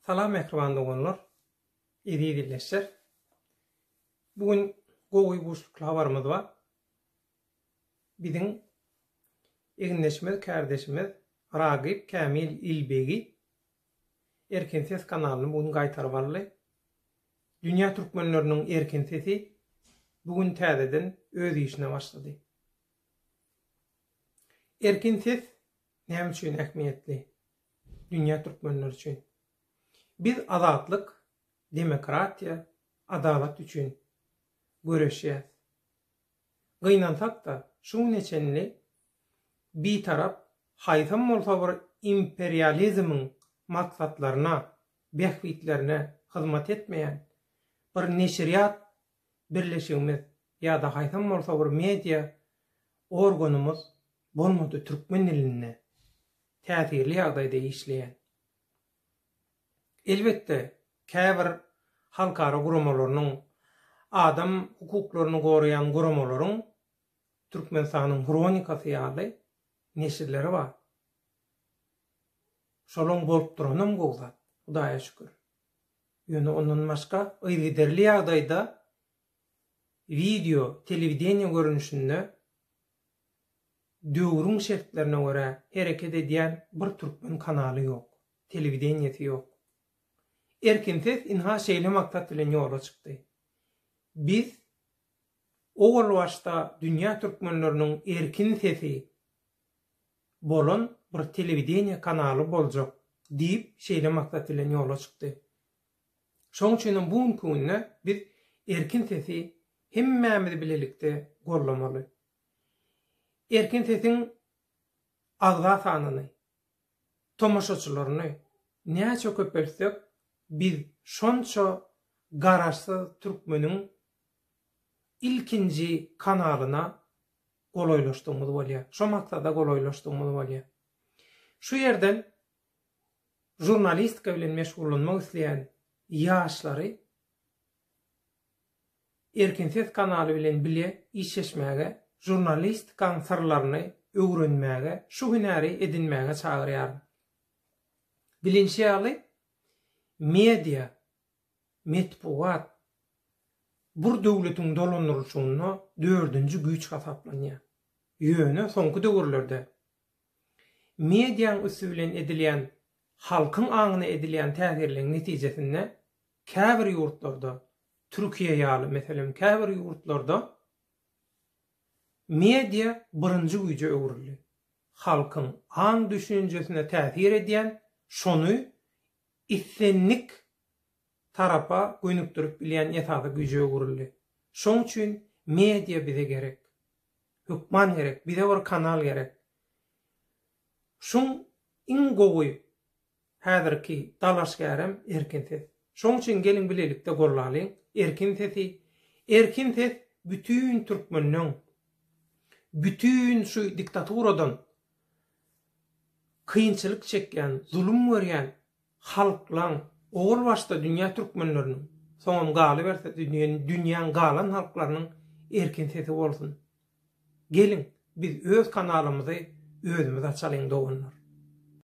Salam mähriban doganlar, eziz ildeşler. Bu gün gowy guşlukly habarymyz bar. Biziň egindeşimiz, kärdeşimiz Ragyp Kämil Ilbegi Erkin ses kanalyny bu gün gaýtaryp aldy. Dünýä türkmenleriniň erkin sesi bu gün täzeden öz işine başlady. Erkin ses Näme üçin ähmiýetli? Dünýä türkmenleri üçin. Biz azatlyk, demokratiýa, adalat üçin göreşýäs. Gynansak-da, şu güne çenli Bitarap haýsam bolsa bir imperializmiň maksatlaryna, bähbitlerine hyzmat etmeýän bir neşirýat birleşigimiz ýa-da haýsam bolsa bir media organymyz bolmady türkmen dilinde täsirli ýagdaýda işleýän. Elbetde, käbir halkara guramalarynyň, adam hukuklaryny goraýan guramalaryň Türkmenistanyň hronikasy ýaly neşirleri bar. Şolaň bolup duranam gowy zat, Hudaýa şükür. Ýöne ondan başga yzygiderli ýagdaýda wideo, telewideniýe görnüşinde döwrüň şertlerine görä hereket edýän bir türkmen kanaly ýok, telewideniýesi ýok. Erkin ses ynha şeýle maksat bilen ýola çykdy. Biz owal başda dünýä türkmenleriniň erkin sesi, bolan bir telewideniýe kanaly boljak diýip, şeýle maksat bilen ýola çykdy. Şoň üçin hem bu günki günde biz Erkin sesi hemmämiz bilelikde gollamaly. Erkin sesiň agza sanyny, tomaşaçylaryny näçe köpeltsek, biz şonça Garaşsyz türkmeniň ilkinji kanalyna golaýlaşdygymyz bolýar. Şo maksada golaýlaşdygymyz bolýar. Şu ýerden žurnalistika bilen meşgullanmak isleýän ýaşlary Erkin ses kanaly bilen bile işleşmäge, žurnalistikaň syrlaryny öwrenmäge, şu hünäri edinmäge çagyrýaryn. Bilinşi ýaly, media Metbugat bir döwletiň dolandyrylyşygynda dördünji güýç hasaplanýar. Ýöne soňky döwürlerde mediaň üsti bilen edilýän halkyň aňyna edilýän täsirleň netijesinde käbir ýurtlarda, Türkiýe ýaly meselem käbir ýurtlarda media birinji güýje öwrüldi. Halkyň aň-düşünjesine täsir edýän, şony islendik tarapa gönükdirip bilýän esasy güýje öwrüldi. Şoň üçin media bize gerek. Hökman gerek. Bize bir kanal gerek. Şuň iň gowy häzirki dalaşgärem Erkin ses. Şoň üçin geliň bilelikde gollalyň Erkin sesi. Erkin ses bütin türkmenden, bütin şu diktaturadan, kynçylyk çekýän, zulum görýän halklaň, owal başda dünýä türkmenleriniň, soňam galyberse dünýäň galan halklarynyň erkin sesi bolsun. Geliň, biz öz kanalymyzy özümiz açalyň doganlar.